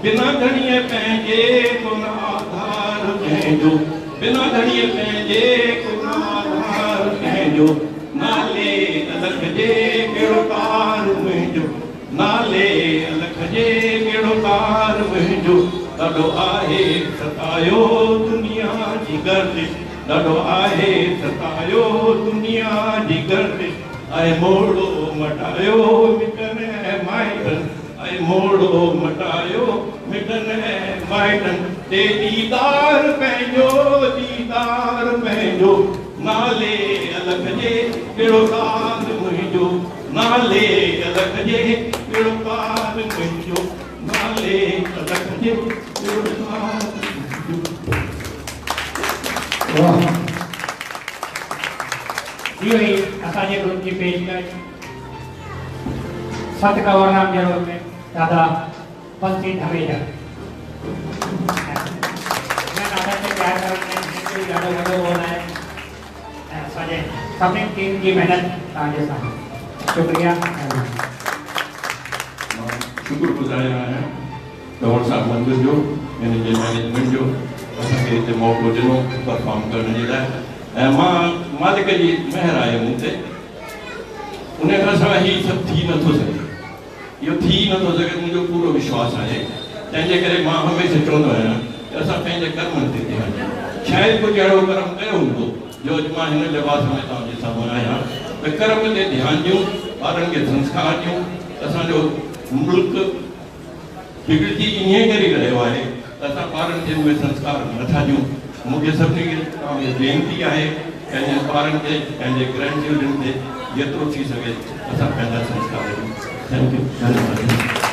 بنا ڌڻيء پنهنجي ڪو نه آڌار ڪنهن جو بنا ڌڻيء پنهنجي ڪو نه آڌار ڪنهن جو نالي الخ جي ڪهڙو ڪار منهنجو نالي الخ جي ڪهڙو ڪار منهنجو ڏاڍو آهي ستايو دنيا جي گردش ڏاڍو آهي ستايو دنيا جي گردش اهي موڙو مٽايو مٽن ۽ مائٽن اي موڙهو مٽايو مٽن ۽ مائٽن تي ديدار پنهنجو ديدار پنهنجو نالي الک جي ڪهڙو ساز منهنجو نالي الک جي ڪهڙو ساز منهنجو نالي الک جي ڪهڙو ساز منهنجو. واهه اهو ئي اسان جي گروپ جي پيشڪش. سنت ڪنور رام جي روپ ۾ دادا بنسي ڌميجا سڀني ٽيم جي محنت تان جي سان شڪريا شڪر گزار آهيان ڪنور صاحب مندر جو ان جي مينيجمنٽ جو اسان کي هتي موقعو ڏنو پرفارم ڪرڻ جي لاء ۽ مان مالڪ جي مهر آهي مون تي ان ڪري سان هي سڀ ٿي نه ٿو سگهي. اهو ٿي ئي نه ٿو سگهي منهنجو پورو وشواس آهي. تنهن جي ڪري مان هميشه چوندو آهيان ته اسان پنهنجي ڪرمن تي ڌيان ڏيون. شايد ڪجهه اهڙو ڪرم ڪيو هوندو جو اڄ مان هن لباس ۾ توهان جي سامهون آهيان ته ڪرم تي ڌيان ڏيون، ٻارن کي سنسڪار ڏيون، اسان جو ملڪ بگڙجي انهيء ڪري رهيو آهي ته اسان ٻارن کي اهي سنسڪار نٿا ڏيون. مون کي سڀني کي توهان کي وينتي آهي پنهنجن ٻارن تي، پنهنجي گرينڊ چلڊرن تي جيترو ٿي سگهي اسان پنهنجا سنسڪار ڏيون. Thank you. ڌنيواد.